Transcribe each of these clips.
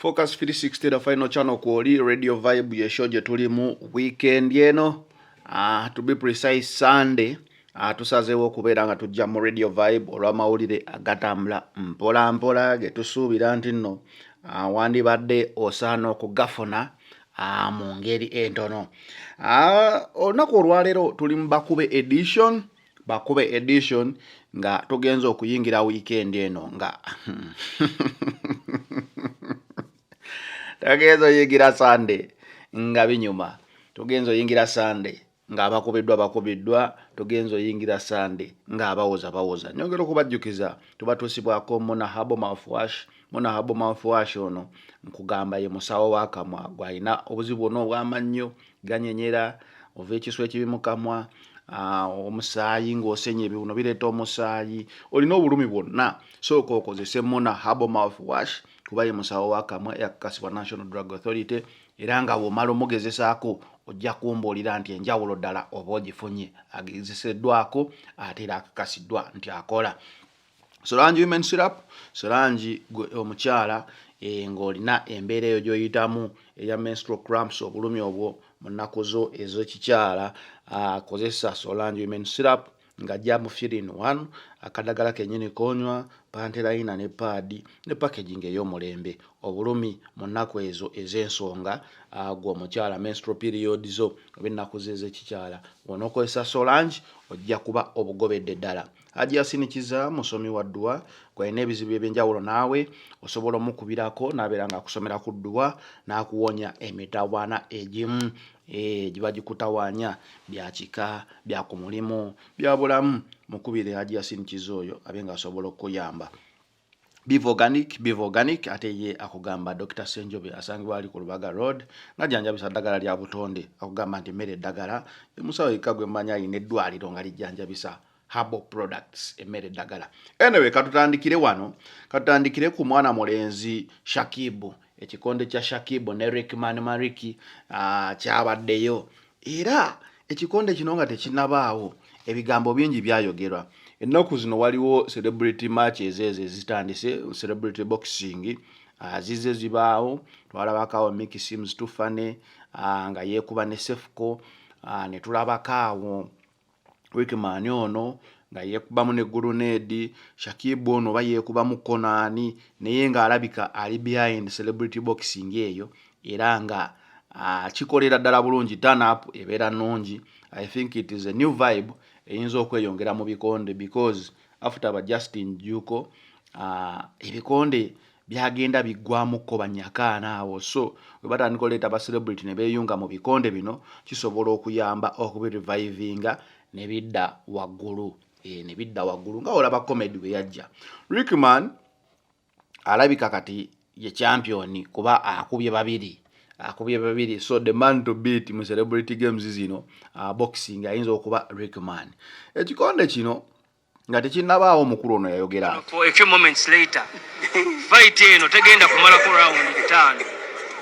Focus 360 the final channel kwoli Radio Vibe ye show gyetulimu weekend eno uh, to be precise Sunday uh, tusazeewo okubeera nga tujja mu Radio Vibe olw'amawulire agatambula mpola mpola getusuubira nti nno uh, wandibadde osaana okugafuna Ah, mu ngeri entono ah, olunaku olwaleero tuli mu bakube edition bakube edition nga tugenza okuyingira wiikendi eno nga tugenza oyingira sande nga binyuma tugenza oyingira sande nga abakobeddwa bakobeddwa togenza oyingira sande nga abawoza bawoza nyongera okubajjukiza tubatuusibwako muna habo mouthwash muna habo mouthwash ono nkugamba ye musawo wakamwa gwalina obuzibu bwona obwamannyo ganyenyera ova ekisu ekibi mukamwa Ah, omusaayi ng'osenya ebiwuno bireeta omusaayi olina obulumi bwonna sooka okozese mona habo mouth wash kuba ye musawo wakamwa eyakakasibwa national drug authority era nga bw'omala omugezesaako ojja kumbuulira nti enjawulo ddala oba ogifunye agezeseddwako ate era akakasiddwa nti akola solangi women sirap solangi omukyala eh, ng'olina embeera eyo gy'oyitamu eya menstro cramps obulumi obwo mu nnaku zo ez'ekikyala akozesa ah, solangi women sirap ng'ajja mu firin one akadagala kenyini konywa panterayina ne paadi ne packaging ey'omulembe obulumi mu nnaku ezo ez'ensonga agwo omukyala menstro period zo oba ennaku ze ezekikyala onookozesa solange ojja kuba obugobedde ddala haji yasinikiza musomi wa dduwa gwalina ebizibu ebyenjawulo naawe osobola omukubirako nabeera nga akusomera ku dduwa n'akuwonya emitawaana egimu Eh, giba gikutawaanya bya kika bya ku mulimu bya bulamu mukubire haji yasin kiza oyo abe nga asobola okukuyamba biva organic biva organic ate ye akugamba dr senjobe asangibwa ali ku lubaga road ngajanjabisa ddagala lya butonde akugamba nti mmere eddagala emusawo yekka gwe mmanyi alina eddwaliro nga lijjanjabisa herbal products emmere eddagala anyway katutandikire wano katutandikire ku mwana mulenzi shakibu ekikonde kya shakibu ne rickman mariki uh, kyabaddeyo era ekikonde kino nga tekinabaawo ebigambo bingi byayogerwa ennaku zino waliwo celebrity match ezeezo ezitandise celebrity boxing ah, zize zibaawo twalabakaawo miki sims tufane ah, nga yeekuba ne sefuko ah, ne tulabakaawo wikimaani ono nga yeekubamu ne guluneedi shakibu ono oba yeekubamu konaani naye ng'alabika ali behind celebrity boxing eyo era nga kikolera ddala bulungi tanup ebeera nnungi i think it is a new vibe eyinza okweyongera mu bikonde because after ba justin juko ebikonde uh, byagenda biggwamukko banyakaana awo so we batandika oleeta ba celebrity ne beeyunga mu bikonde bino kisobola okuyamba okubirevivinga ne bidda waggulu e, ne bidda waggulu nga olaba comedy we yajja rickman alabika kati ye championi kuba akubye babiri akubye babiri so the man to beat mu celebrity games zino uh, boxing ayinza okuba rickman ekikonde kino nga tekinnabaawo omukulu ono yayogera fayiti eno tegenda kumalako rawundi bitaano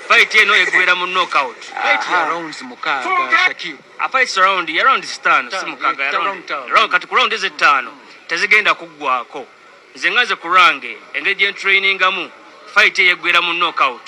fayiti eno egwera mu nokout kati ku rawundi ezettaano tezigenda kuggwako nze nga nze ku lwange engeri gyentrainingamu fayiti eyo egwera mu nokout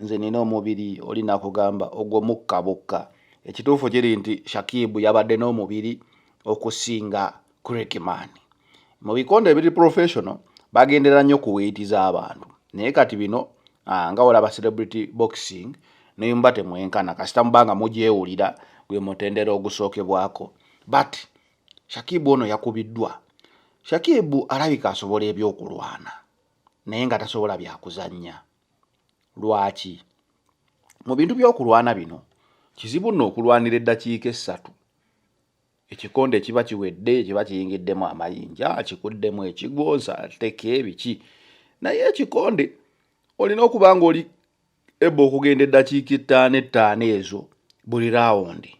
nze nina omubiri oli nakugamba ogwo mukka bukka ekituufu kiri nti shakibu yabadde n'omubiri okusinga crickman mu bikonde ebiri professional bagendera nnyo ku weiti z'abantu naye kati bino ah, nga olaba celebrity boxing nemba temwenkana kasita mubanga mugyewulira gwe mutendera ogusookebwako but shakibu ono yakubiddwa shakibu alabika asobola ebyokulwana naye nga tasobola byakuzannya Lwaki? Mu bintu by'okulwana bino, kizibu nno okulwanira eddakiika essatu. Ekikonde ekiba kiwedde, ekiba kiyingiddemu amayinja, kikuddemu ekigwo, nsateke, biki. Naye ekikonde olina okuba ng'oli ebba okugenda eddakiika ettaano ettaano ezo buli raawundi.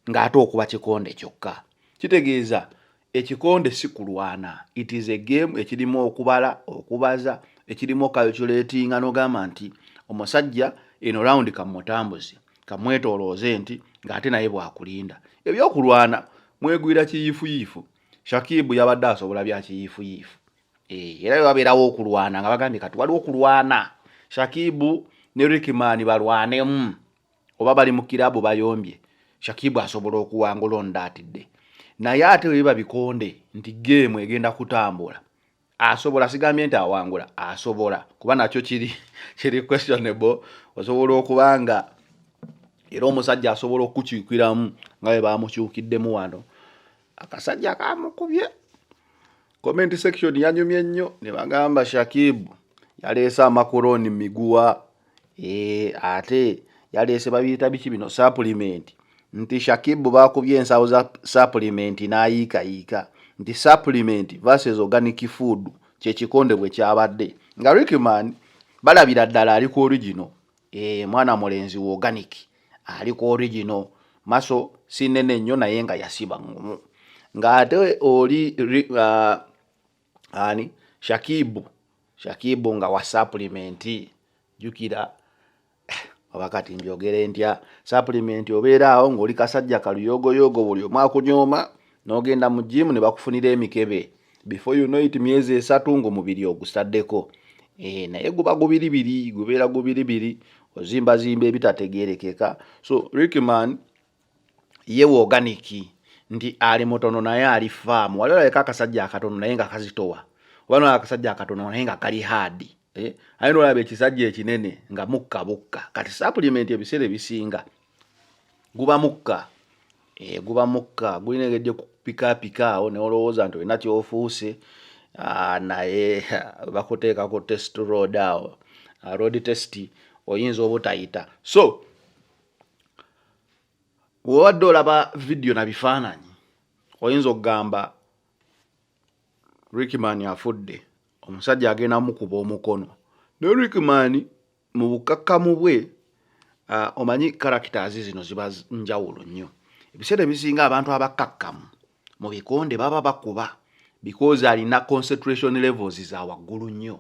ng'ate okuba kikonde kyokka. Kitegeeza ekikonde si kulwana, it is a game ekirimu okubala, okubaza, ekirimu okalculatinga n'ogamba nti omusajja eno rawundi kamutambuze, kamwetoolooze nti ng'ate naye bwakulinda. Ebyokulwana mwegwira kiyiifuyiifu, Shakib yabadde asobola bya kiyiifuyiifu eh, era babeerawo okulwana nga bagambye kati waliwo okulwana Shakib ne Rickman balwanemu. oba bali mu kirabu bayombye shakibu asobola okuwangula ondatidde naye ate weba bikonde nti geemu egenda kutambula asobola sigambye nti awangula asobola kuba nakyo kiri kiri questionable osobola okuba nga era omusajja asobola okukyukiramu nga bwe bamukyukiddemu wano akasajja kamukubye Comment section yanyumye nnyo ne bagamba Shakib yaleese amakoroni miguwa e, ate yaleese babiyita biki bino supplement nti Shakib bakubye ensawo za supplement n'ayiikayiika nti supplement versus organic food kyekikonde bwe kyabadde nga Rickman balabira ddala ali ku origino Eh, mwana mulenzi wa organic ali ku original maso si nene nnyo naye nga yasiba ngumu ng'ate oli uh, ani shakibu shakibu nga wa supplementi jukira oba kati njogere ntya supplementi obeera awo ng'oli kasajja kaluyogoyogo buli omu akunyooma n'ogenda mu jiimu ne bakufunira emikebe before you know it myezi esatu ng'omubiri ogusaddeko eh, naye guba gubiribiri gubeera gubiribiri ozimbazimba ebitategeerekeka so rickman ye woganiki nti ali mutono naye ali faamu wali olabeka akasajja akatono naye nga kazitowa oba nolaba akasajja akatono naye nga kali haadi eh, aye nolaba ekisajja ekinene nga mukka bukka kati supplement ebiseera ebisinga guba mukka eh, guba mukka gulina engeri gyekupikaapika awo neolowooza nti olina kyofuuse ah, naye bakuteekako test road awo ah, road test oyinza obutayita so wewabadde olaba vidiyo na bifaananyi oyinza okugamba rickman afudde omusajja agenda mukuba omukono ne rickman mu bukakkamu bwe uh, omanyi characters zino ziba njawulo nnyo ebiseera ebisinga abantu abakkakkamu mu bikonde baba bakuba because alina concentration levels za waggulu nnyo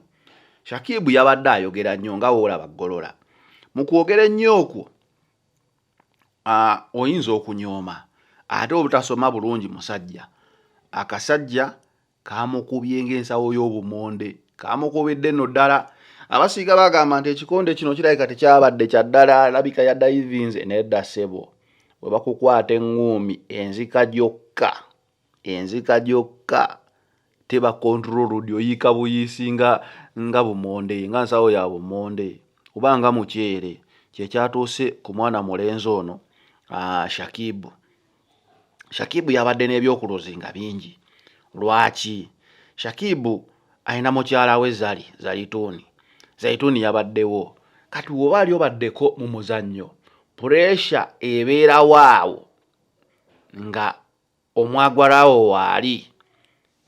shakibu yabadde ayogera nnyo nga woolaba ggolola mu kwogera ennyo okwo uh, oyinza okunyooma ate obutasoma bulungi musajja akasajja Kaamukubye ng'ensawo y'obumonde. Kaamukubidde nno ddala. Abasiiga bagamba nti ekikonde kino kirabika tekyabadde kya ddala alabika yadayivinze nedda ssebo. Bwe bakukwata eŋŋuumi enzika gyokka enzika gyokka teba control road oyiika buyiisi nga nga bumonde nga nsawo ya bumonde oba nga muceere kyekyatuuse ku mwana mulenzi ono ah, shakibu Shakibu yabadde n'ebyokuluzi nga bingi. Lwaki? Shakibu alina mukyala we Zari Zaituuni. Zaituuni yabaddewo. Kati woba ali obaddeko mu muzannyo, puresha ebeerawo awo nga omwagwalawo waali.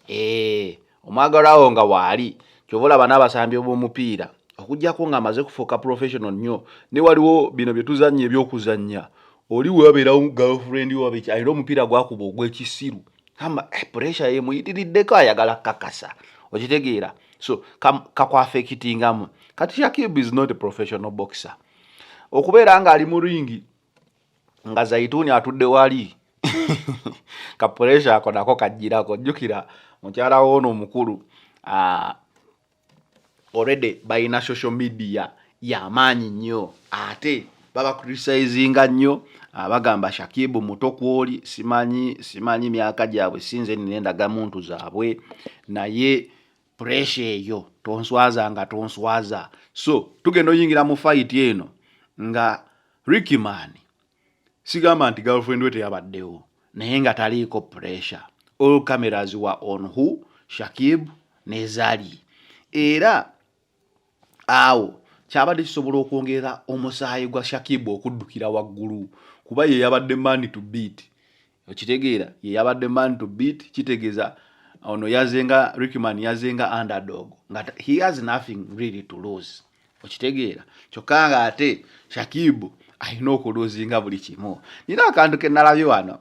Eeh omwagalwa wo nga waali kyova olaba n'abasambi b'omupiira okuggyako ng'amaze kufuuka professional nnyo naye waliwo bino bye tuzannya eby'okuzannya oli we wabeerawo girlfriend wo babiki alina omupiira gwakuba ogw'ekisiru gamba eh, pressure yemuyitiriddeko ayagala kukakasa okitegeera so kakwafekitingamu kati shakib is not a professional boxer okubeera ng'ali mu ringi nga zaituuni atudde wali ka pressure ako nako kajjirako jjukira mukyala woono omukulu uh, already balina social media yamaanyi nnyo ate baba criticizinga nnyo ah, bagamba shakibu muto kwoli simanyi simanyi myaka gyabwe sinze nina endagamuntu zaabwe naye puresha eyo tonswaza nga tonswaza so tugenda oyingira mu fight eno nga rikiman sigamba nti girlfriend we teyabaddewo naye nga taliiko puresha all cameras wa on who shakib nezali era awo kyabadde kisobola okwongera omusaayi gwa shakib okuddukira waggulu kuba ye yabadde mani to beat okitegeera ye yabadde man to beat kitegeza ono yazenga rickman yazenga underdog nga he has nothing really to lose okitegeera kyokka nga ate shakibu alina okuluzinga buli kimu nina akantu kenalabye wano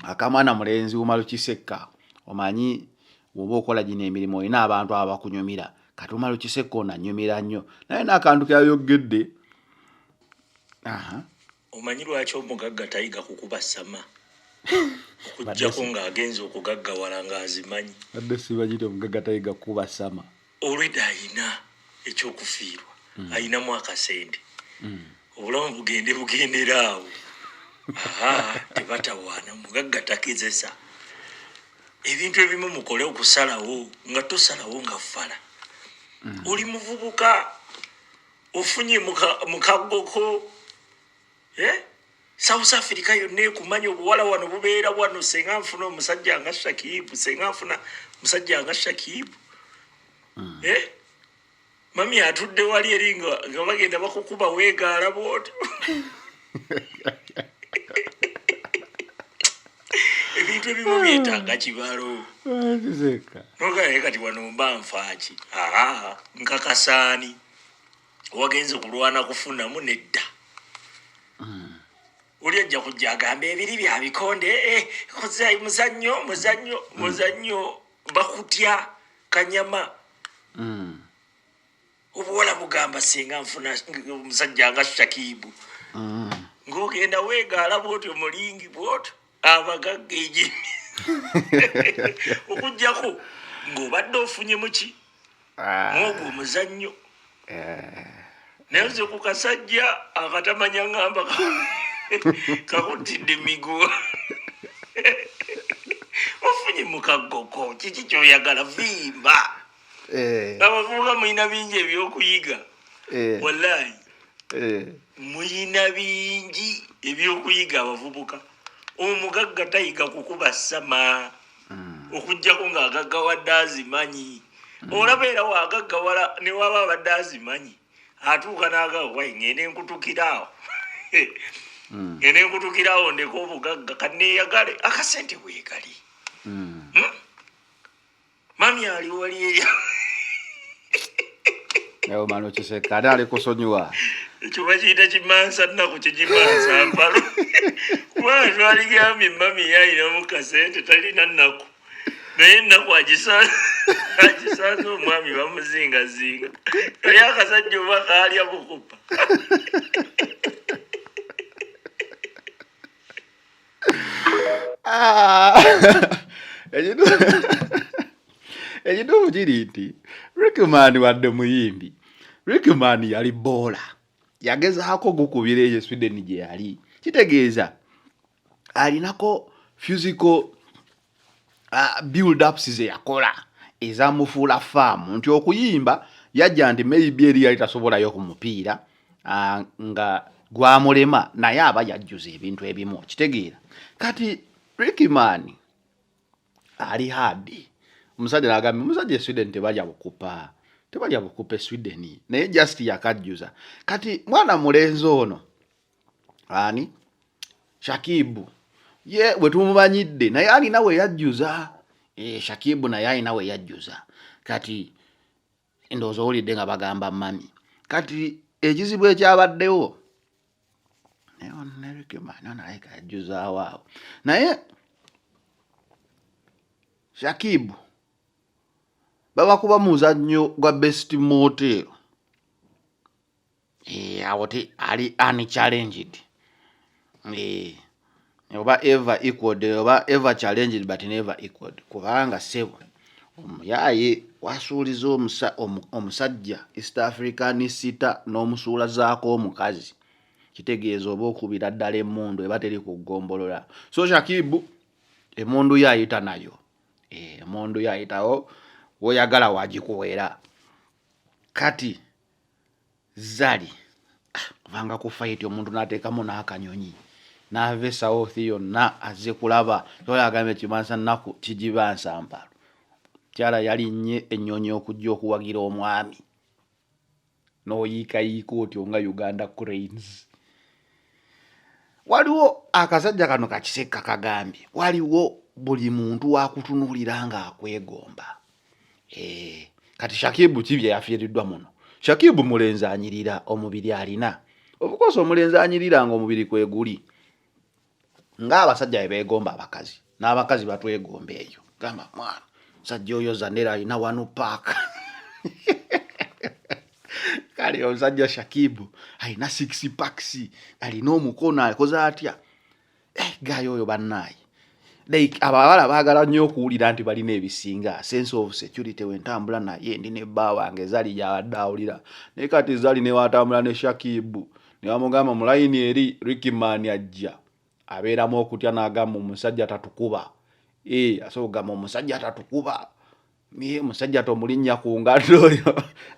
akamwana mulenzi wumalukisekka omanyi woba okola gino emirimu olina abantu abakunyumira kati wumalukisekka onanyumira nnyo naye naakantu keyayogedde aha uh -huh. Omanyi lwaki omugagga tayiga kukuba sama okujjako ng'agenze okugaggawala ng'azimanyi. Badde sibagire omugagga tayiga kukuba sama. Olweda ayina ekyokufiirwa mm. ayinamu akasente mm. obulamu bugende bugendera awo tebatawaana mugagga takezesa ebintu ebimu mukole okusalawo nga tosalawo nga fala mm. oli muvubuka ofunye mukaggoko eh? south africa yonna ekumanya obuwala wano bubeera wano senga nfuna omusajja nga shakibu senga nfuna omusajja nga shakibu hmm. eh? mami atudde wali eri nga bagenda bakukuba weegaala bwotyo ebintu ebimu byetaaga kibalo nogaye kati wano mba nfaaki nkakasaani wagenze kulwana kufunamu nedda oli ajja kujja agamba ebiri bya bikonde eh, eh, muzannyo muzannyo mm. muzannyo bakutya kanyama mm. obuwala bugamba singa nfuna omusajja nga shakibu mm. ng'ogenda weegaala bwotyo mulingi bwotyo abagagga enyini okujjako ng'obadde ofunyemu ki ah. mwogwo omuzannyo eh. naye nze ku kasajja akatamanya ngamba kakutidde miguwa ofunye mukagoko kiki kyoyagala vimba eh. abavubuka mulina bingi ebyokuyiga eh. wallahi eh. mulina bingi ebyokuyiga abavubuka omugagga tayiga kukuba sama hmm. okujjako nga agaggawadde azimanyi hmm. olaba era wagaggawala newaba abadde azimanyi atuuka nagawo wai ngende nkutukiraawo hmm. ngende nkutukiraawo ndeka obugagga kaneyagale akasente wegali mami ali wali eyo ewo mani okiseka ate ali kusonyiwa ekyo bakiyita kimansa nnaku kigimansa mpalo kubanga twaligambye mami yayinamu kasente talina nnaku naye ennaku agisanze omwami bamuzingazinga naye akasajja oba kaalya bukupa Ah. ekituufu kiri nti rickman wadde muyimbi rickman yali boola yagezaako gukubira eyo sweden gye yali kitegeeza alinako fusical uh, build ups ze yakola ezamufuula faamu nti okuyimba yajja nti maybe eri yali tasobolayo ku mupiira uh, nga gwamulema naye aba yajjuza ebintu ebimu okitegeera kati rikiman ali hadi omusajja nagambye omusajja esweden tebalya bukupa tebalya bukupa esweden naye just yakajjuza kati mwana mulenzi ono ani shakibu ye wetumumanyidde naye alina weyajjuza e, eh, shakibu naye alina weyajjuza kati ndowooza owulidde nga bagamba mami kati ekizibu ekyabaddewo naye onarekemanaonaleka yajjuzaawoawo naye shakibu babakuba muzannyo gwa best motel Eh, awo ti ali unchallenged eh, oba ever equaled oba ever challenged but never equaled kubanga sebo omuyaye wasuuliza omusajja east african sita n'omusuula zaako omukazi kitegeeza oba okubira ddala emundu eba teri ku ggombolola so shakibu emundu yo ayita nayo eh, emundu yo ayitawo woyagala wagikuwera kati zali ah, kubanga ku fayiti omuntu nateekamu n'akanyonyi naava esawoothi yonna azze kulaba oyo agambye kibansa nnaku kigibansa mpalo kyala yalinnye ennyonyi okujja okuwagira omwami n'oyiikayiika otyo nga uganda cranes waliwo akasajja kano kakisekka kagambye waliwo buli muntu wakutunuulira ng'akwegomba Eh, kati shakibu ki byeyafiiriddwa muno shakibu mulenzi anyirira omubiri alina obukosa omulenzi anyirira nga omubiri kweguli ngaabasajja bebeegomba abakazi n'abakazi batwegomba eyo gamba mwana musajja oyo zanera alina wanu paaka kale omusajja shakibu alina six paks alina omukono akoze atya eh, gayo oyo bannaaye like abawala baagala nnyo okuwulira nti balina ebisinga sense of security wentambula naye ndi ne bba wange zali gyabadde awulira naye kati zali newatambula ne shakibu newamugamba mulayini eri rikiman ajja abeeramu okutya n'agamba omusajja tatukuba e eh, asobola okugamba omusajja tatukuba Miye musajja tomulinnya ku ngatto oyo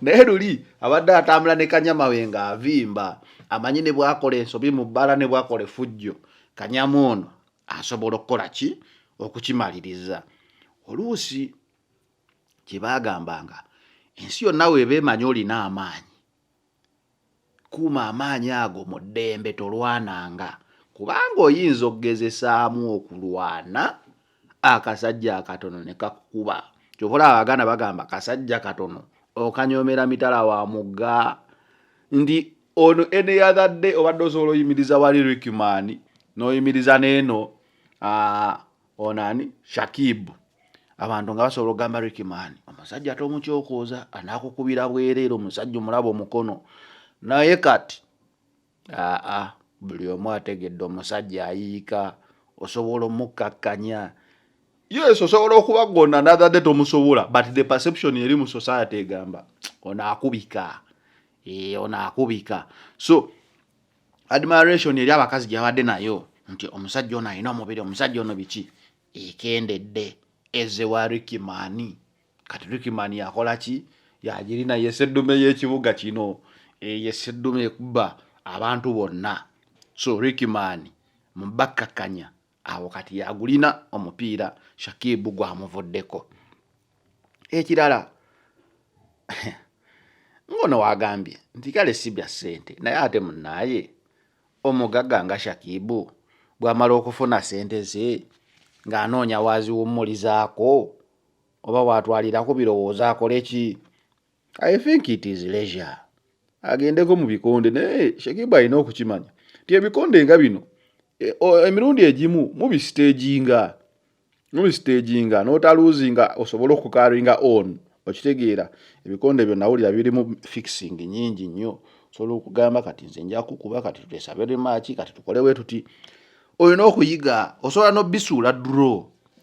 naye luli abadde atambula ne kanyama we nga avimba amanyi ne bwakola ensobi mu bbala ne bwakola efujjo kanyama ono asobola okukola ki okukimaliriza oluusi kye baagambanga ensi yonna weeba emanyi olina amaanyi Kuuma amaanyi ago mu ddembe, tolwananga, kubanga oyinza okugezesaamu okulwana akasajja akatono ne kakukuba. Kyova olaba Abaganda bagamba kasajja katono okanyoomera mitala wa mugga nti on any other day obadde osobola oyimiriza wali Rickman n'oyimiriza n'eno ah, ono ani shakibu abantu nga basobola okugamba rikiman omusajja tomukyokoza anakukubira bwereere omusajja omulaba omukono naye kati aa buli omu ategedde omusajja ayiika osobola omukkakkanya yes osobola okuba gona another day tomusobola but the perception eri mu society egamba onaakubika ee eh, onaakubika so admiration eri abakazi gyabadde nayo nti omusajja ono alina omubiri omusajja ono biki ekendedde eze wa rikimani kati rikimani yakola ki yagirina yeseddume y'ekibuga kino eyeseddume eh, ekubba abantu bonna so rikimani mubakkakkanya awo kati yagulina omupiira shakibu gwamuvuddeko ekirala ngono wagambye nti kale si bya ssente naye ate munaaye omugagga nga shakibu bwamala okufuna ssente ze ng'anoonya waaziwummulizaako oba waatwalirako birowoozo akole ki I think it is leisure. Agendeko mu bikonde naye Shekiba alina okukimanya nti ebikonde nga bino e, emirundi egimu mubisiteginga mubisiteginga notaluzinga osobola okukaringa on okitegeera ebikonde byo nawulira birimu fixing nyingi nnyo osobola okugamba kati nze nja kukuba kati tutesabe remaki kati tukolewe tuti olina okuyiga osobola nobisuula duro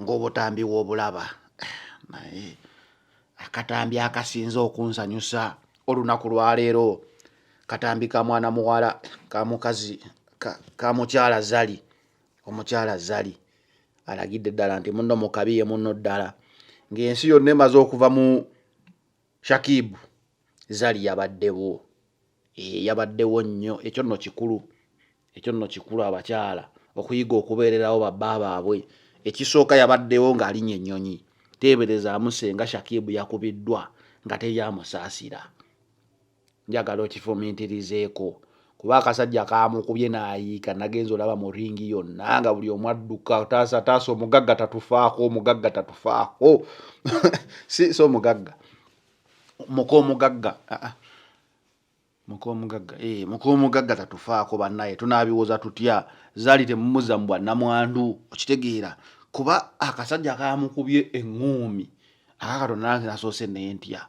ng'obutambi w'obulaba naye akatambi akasinze okunsanyusa olunaku lwaleero katambi ka mwana muwala ka mukazi ka mukyala zali omukyala zali alagidde ddala nti munno mukabi ye munno ddala ng'ensi yonna emaze okuva mu shakibu zali yabaddewo Eh, yabaddewo nnyo ekyo nno kikulu ekyo nno kikulu abakyala okuyiga okubeererawo babba baabwe ekisooka yabaddewo ng'alinya ennyonyi teeberezaamu senga shakibu yakubiddwa nga teri amusaasira njagala okifumintirizeeko kuba akasajja kaamukubye naayiika nagenza olaba mu ringi yonna nga buli omu adduka taasa taasa omugagga tatufaako omugagga tatufaako si omugagga muka omugagga ah, ah. muka omugagga eh, muka omugagga tatufaako bannaye tunaabiwoza tutya zaali temumuza mu bwannamwandu okitegeera kuba akasajja kaamukubye eŋŋuumi akakatonda nange nasoose nentya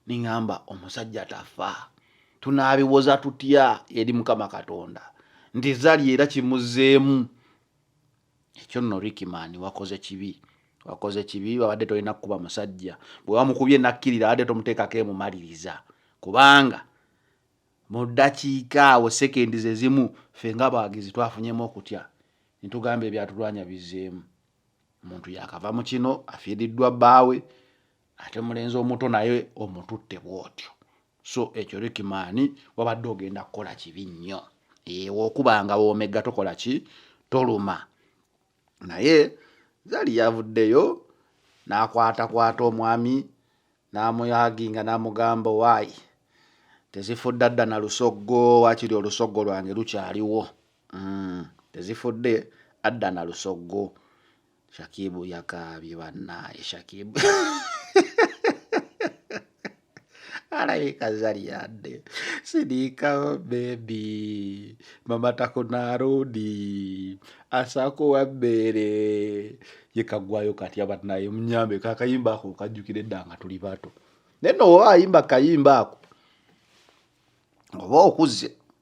niŋamba omusajja tafa tunaabiwoza tutya eri mukama katonda nti zali era kimuzeemu ekyo nno Ricky man wakoze kibi wakoze kibi wabadde tolina kukuba musajja bwe wamukubye nakkirira abadde tomuteekako emumaliriza kubanga mu ddakiika awo sekendi ze zimu ffe nga abawagizi twafunyemu okutya ne tugamba ebyatulwanya bizzeemu omuntu yakava mu kino afiiriddwa bbaawe ate mulenzi omuto naye omututte bwotyo so ekyo rikimaani wabadde ogenda kukola kibi nnyo ewo okuba nga womega tokola ki toluma naye zali yavuddeyo n'akwatakwata omwami n'amuyaginga n'amugamba waayi tezifudde adda na lusoggo wakiri olusoggo lwange lukyaliwo mm, tezifudde adda na lusoggo Shakibu yakaabye bannaaye Shakibu alabika zali yadde sidiika bebi mama takunaarundi asakuwa bbeere yekagwayo katya bannaaye munyambe kakayimba ako kajjukira edda nga tuli bato naye nooba ayimba kayimba ako oba okuze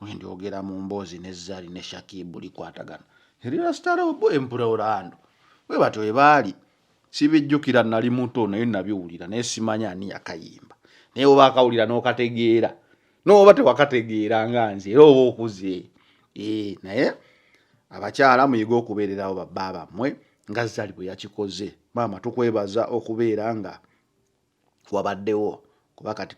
wendyogera mu mboozi ne zari ne shakibu likwatagana erirasitarobo empura orlando we batyo we baali sibijjukira nali muto naye nabiwulira naye simanya ani yakayimba naye oba akawulira n'okategeera nooba tewakategeera nga nze era oba okuze ee naye abakyala muyige okubeererawo babba bammwe nga zari bwe yakikoze maama tukwebaza okubeera nga wabaddewo kuba kati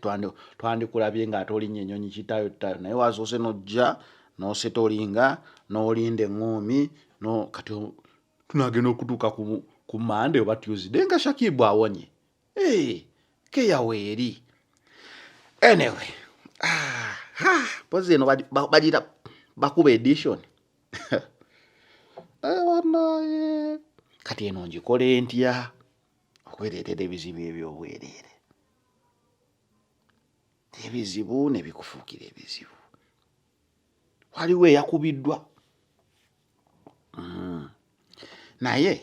twandikulabye nga ate olinya enyonyi kitayo tayo naye wasoose nojja noseta olinga nolinda eŋoomi no kati tunagenda okutuuka ku mande oba tuesday nga shakibu awonye eh, keyaweeri anyway pozi eno bagira bakuba edition eh, kati eno njikole ntya okwereetera ebizibu eby'obwereere ebizibu ne bikufuukira ebizibu waliwo eyakubiddwa mm. naye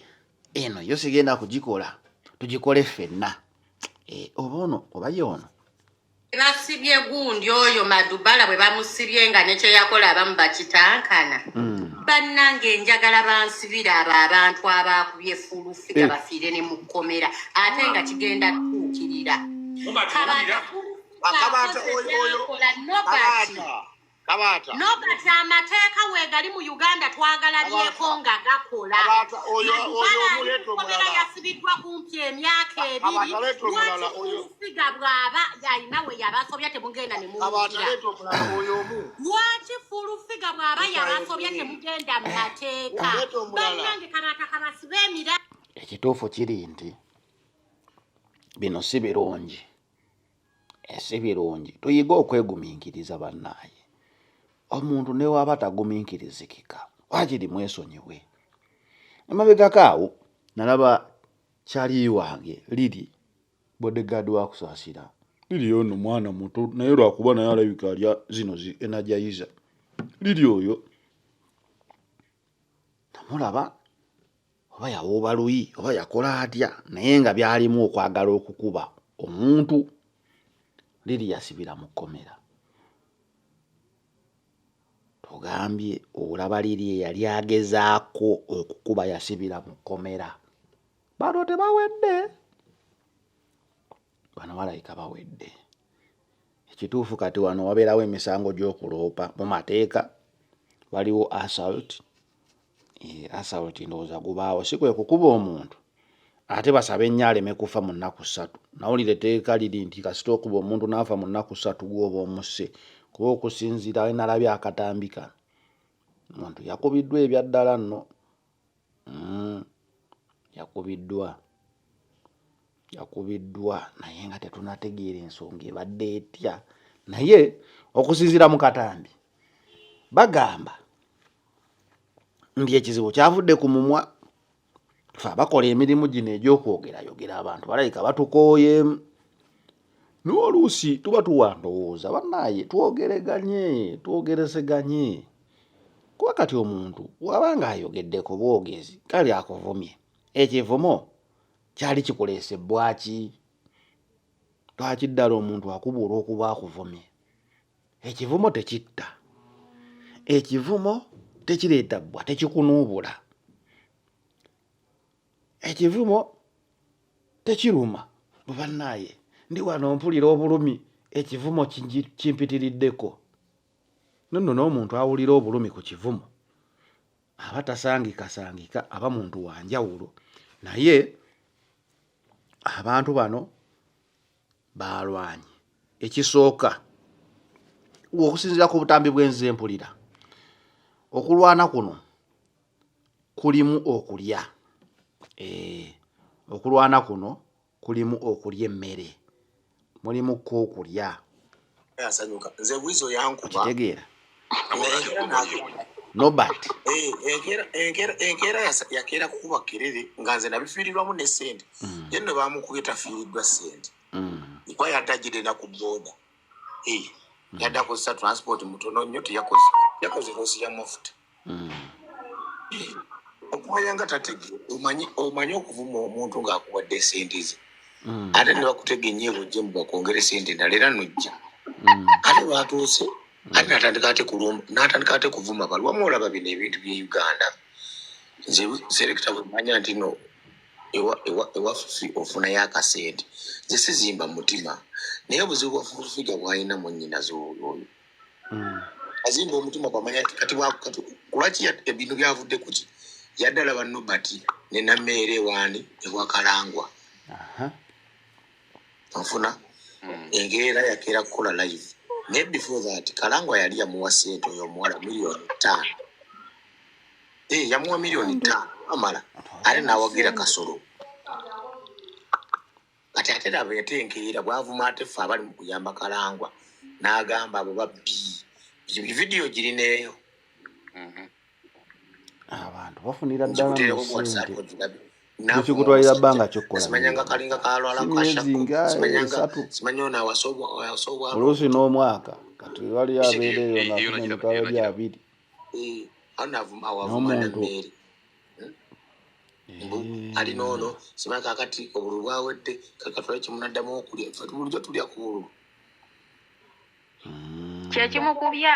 eno yo sigenda kugikola tugikole ffenna eh, oba ono oba ye ono basibye gundi oyo madubala bwe bamusibye nga nekyeyakola abamu bakitankana mm. bannange njagala bansibira abo abantu abaakubye fulufiga eh. bafiire ne mukkomera ate nga kigenda tuukirira kabatakola nobati kabaata no kati amateeka weegali mu uganda twagala byeko nga gakola oyomuletomulala yasibiddwa kumpi emyaka ebiri lwakifuusiga bw'aba yalina we yabasobya temugenda ne lwaki fulufiga bw'aba yabasobya temugenda mu mateeka banange kabaata kabasiba emira ekituufu kiri nti bino si birungi ese eh, birungi tuyige okweguminkiriza bannaaye omuntu newaaba taguminkirizikika wakiri mwesonyiwe emabegako awo nalaba kyaliyi wange liri bodegard wakusaasira liri ono mwana muto naye lwakuba naye alabika alya zino zi enajayiza liri oyo namulaba oba yawooba luyi oba yakola atya naye nga byalimu okwagala okukuba omuntu liri yasibira mu kkomera tugambye olaba liri eyali agezaako okukuba yasibira mu kkomera bano tebawedde bano balabika bawedde ekituufu kati wano wabeerawo emisango gy'okuloopa mu mateeka waliwo assault eh, assault ndowooza gubaawo si kwe kukuba omuntu ate basaba ennyo aleme kufa mu nnaku ssatu nawulira etteeka liri nti kasita okuba omuntu n'afa mu nnaku ssatu gwoba omusse kuba okusinziira enalabye akatambi kano omuntu yakubiddwa ebyaddala nno mm. yakubiddwa yakubiddwa naye nga tetunategeera ensonga ebadde etya naye okusinzira mu katambi bagamba nti ekizibu kyavudde ku mumwa fe abakola emirimu gino egy'okwogerayogera abantu balabika batukooyeemu naye oluusi tuba tuwa ndowooza bannaaye twogereganye twogerezeganye kuba kati omuntu waba nga ayogeddeko bwogezi kale akuvumye ekivumo kyali kikuleese bwaki lwaki ddala omuntu akubuula okuba akuvumye ekivumo tekitta ekivumo tekireeta bbwa tekikunuubula ekivumo tekiruma bubannaaye ndi wano mpulira obulumi ekivumo kimpitiriddeko nonno n'omuntu awulira obulumi ku kivumo aba tasangikasangika aba muntu wa njawulo naye abantu bano baalwanye ekisooka okusinziira ku butambi bw'enze mpulira okulwana kuno kulimu okulya eh, okulwana kuno kulimu okulya emmere mulimu ko okulya kitegeera nobert enkeera yakeera kukuba kerere nga nze nabifiirirwamu ne sente mm. ye no bamukubye tafiiriddwa sente mm. kuba yadagire naku boda eh, mm. yadda kozesa transport mutono nnyo teyakoze yakoze kosi ya mafuta hmm. okumanya nga tatege omanyi okuvuma omuntu ng'akuwadde esente ze hmm. ate ne bakutega enyeebo jje mu bakwongere sente endala era nojja hmm. ate lwatuuse ate natandika ate kulumba natandika ate kuvuma balwamu olaba bino ebintu bye uganda nze selekita bwemanya nti no ewaffe ofunayo akasente nze sizimba mutima naye obuzibu bwafufiga bwalina mu nyinazi oyo hmm. azimba omutima bamanya kati kulwaki ebintu byavudde kuki yaddala banobati nenameere waani ewakalangwa nfuna hmm. engeera yakeera kukola live naye before that kalangwa yali yamuwa sente oyo omuwala miliyoni taano eh, yamuwa miliyoni taano amala ate nawagira kasolo kati ate laba ate enkeera bwavuma ate ffe abali mu kuyamba kalangwa n'agamba abo babbi vidiyo girineeyo mhm. abantu bafunira ddalaekikutwalira bbanga kyokkololuusi n'omwaka kati wali abeereyo nafunenkaali abiri eh, n'omuntu Mm. ali noono simala kakati obulu bwawedde kakatula kimunaddamu okulya bulijjo tulya ku bulu mm. kyekimukubya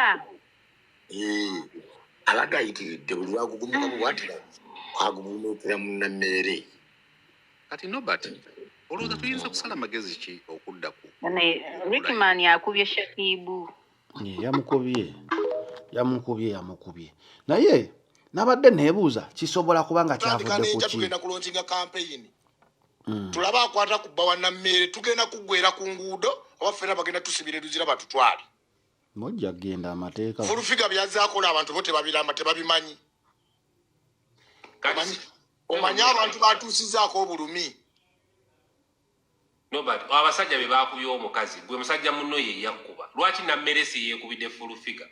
eh, abadde ayitiridde buli lwagugumika bubwatira agugumukira munammeere kati nobert olowooza tuyinza kusala magezi ki okudda ku rikiman akubye shakibu yamukubye yamukubye yamukubye naye nabadde nebuuza kisobola kuba nga kyavudekugenda kulonkinga kampeyini hmm. tulaba akwata ku bba wanammeere tugenda kuggwera ku nguudo oba fena bagenda tusibira eruzira batutwale mujja kugenda amateeka fulufiga byazakola abantu bo tebabiramba tebabimanyi omanyi abantu batuusizaako obulumi Nobert, abasajja be baakubye omukazi gwe musajja munno ye yakkuba lwaki nammeresi yeekubidde fulu figa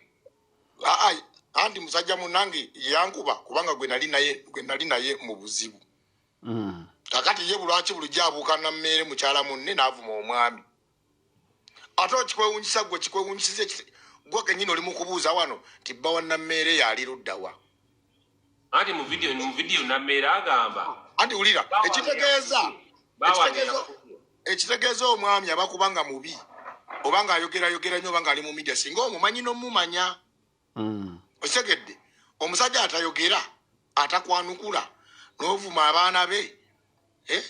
andi musajja munange yankuba kubanga gwe nali naye gwe nali naye mu buzibu mm. kakati ye bulwaki bulijjo abuuka nammeere mukyala munne naavuma omwami ate okikwewunyisa gwe kikwewunyisiza gwe kenyini oli mukubuuza wano nti bba wa nammeere yaali luddawa anti mu video mu video nameera agamba anti wulira ekitegeeza ekitegeeza omwami aba kubanga mubi oba nga ayogera yogera nnyo oba nga ali mu media singa omumanyi nomumanya hmm. okitegedde omusajja atayogera atakwanukula novuma abaana be eh?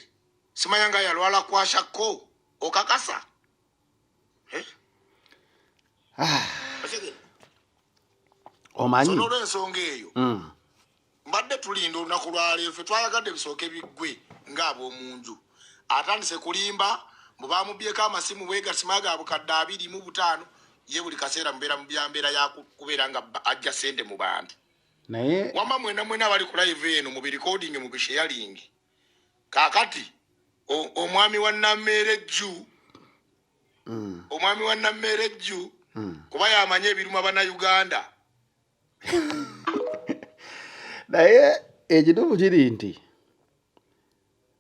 simanya nga yalwala kwashakko okakasa Ah. omanyi olwensonga eyo mm. mbadde tulinda olunaku lwaleero fe twayagadde bisooke biggwe ng'ab'omunju atandise kulimba mbu bamubyeko amasimu bwegasima ga bukadde abiri mu butaano ye buli kaseera mubeera mu byambeera yakubeera nga ajja sente mu bantu naye wamba mwena mwena abali ku live eno mu birecording mu bisheyalingi kakati omwami wa nameere jju mm. omwami wa nameere jju mm. kuba yamanyi ebiruma bana uganda naye ekituufu kiri nti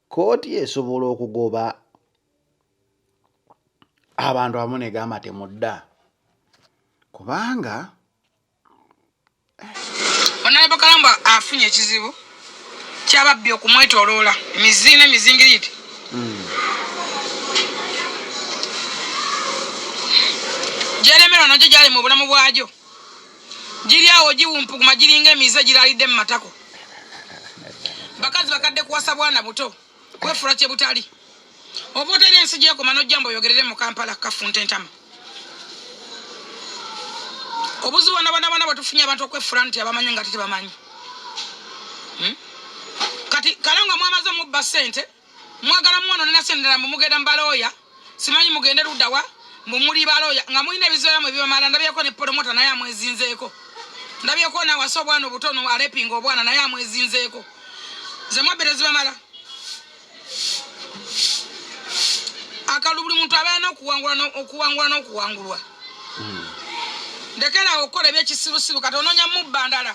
kooti esobola okugoba abantu amu negamba temudda kubanga Honorable Kalamba afunye ekizibu kyababbi okumwetoloola emizi n'emizingiriiti hmm. gyeremerwa nagyo gyali mu bulamu bwagyo giri awo giwumpuguma giringa emize giraalidde mu matako bakazi bakadde kuwasa bwana buto kwefula kye butali oba otera ensi gyekoma nojjamba oyogerere mu kampala kafunta entama obuzibu banabanabana bwetufunye abantu okwefula nti abamanyi nga tetebamanyi hmm? kati kale nga mwamaze mubba sente mwagala mwono nenasendera mumugenda mbalooya simanyi mugende ludawa mbu muli baloya nga mulina ebizoya mwe bibamala ndabyeko ne polomota naye amwezinzeeko ndabyeko nawasa obwana obutono alepinga obwana naye amwezinzeeko zemwabbere zibamala akalu buli muntu abeera nokuwangula nokuwangulwa hmm. ndekerawo okukola ebyekisirusiru kati ononya mubba ndala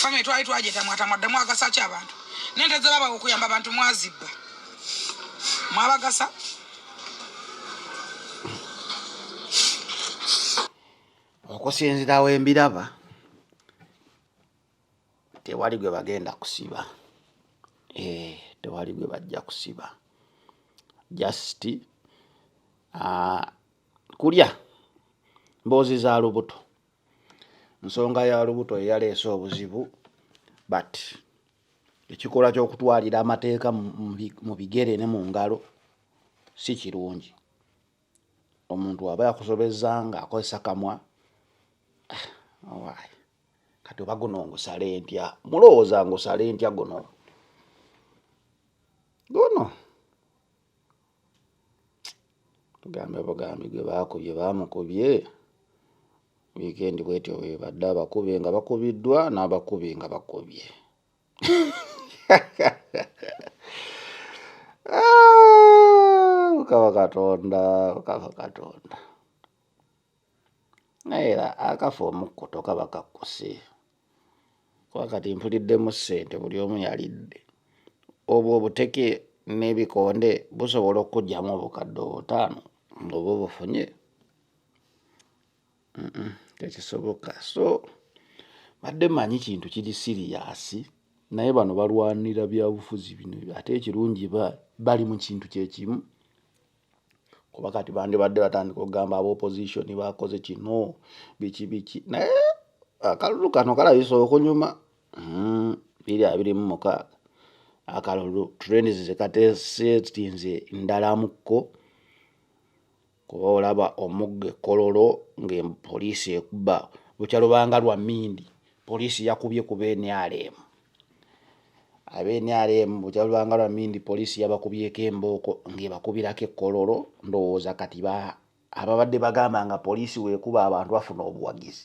famire twali twajetamwatamwa ddamu agasa ki abantu nente zebaba okuyamba abantu mwazibba mwabagasa okusinzira wembiraba tewali gwe bagenda kusiba eh, tewali gwe bajja kusiba just uh, kulya mboozi za lubuto nsonga ya lubuto eyaleese obuzibu but ekikolwa ky'okutwalira amateeka mu bigere ne mu ngalo si kirungi omuntu aba yakusobeza nga akozesa kamwa ah, kati oba guno ngusale ntya mulowooza ngusale ntya guno guno tugambe bugambi gwe baakubye baamukubye wiikendi bwetyo webadde abakube nga bakubiddwa n'abakubi nga bakubye ah, mukama katonda mukama katonda naye era akafa omukkuto kaba kakkuse kuba kati mpuliddemu ssente buli omu yalidde obwo obuteke n'ebikonde busobola okukugyamu obukadde obutaano ngaoba obufunye tekisoboka so badde manyi kintu kiri siriyasi naye bano balwanira byabufuzi bino ate ekirungi bali mu kintu kyekimu kuba kati bandibadde batandika okugamba aba opposition bakoze kino biki biki naye akalulu kano kalabisa okunyuma hmm, biri abiri mu mukaaga akalulu trends zekatesetinze ndalamuko kuba olaba omugga ekololo nga poliisi ekuba bukya lubanga lwa mindi poliisi yakubye kuba enyaleemu abe nrm bukyalwanga lwa mindi poliisi yabakubyeko embooko ng'ebakubirako ekkololo ndowooza kati ababadde bagamba nga poliisi weekuba abantu bafuna obuwagizi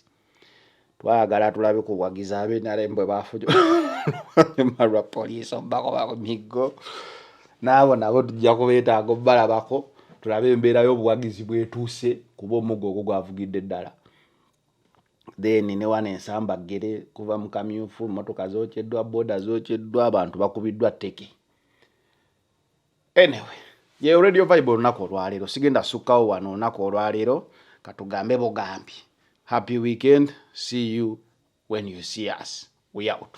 twagala tulabe ku buwagizi abe nrm bwe bafunyuma lwa poliisi omubakoba ku miggo naabo nabo tujja kubeetaaga obubalabako tulabe embeera y'obuwagizi bwetuuse kuba omuggo ogwo gwavugidde ddala then ne wano ensamba ggere kuva mu kamyufu mmotoka zokyeddwa boda zokyeddwa abantu bakubiddwa teke anyway yeyo radio vibe olunaku olwaleero sigenda sukkawo wano olunaku olwaleero katugambe bugambi happy weekend see you when you see us we out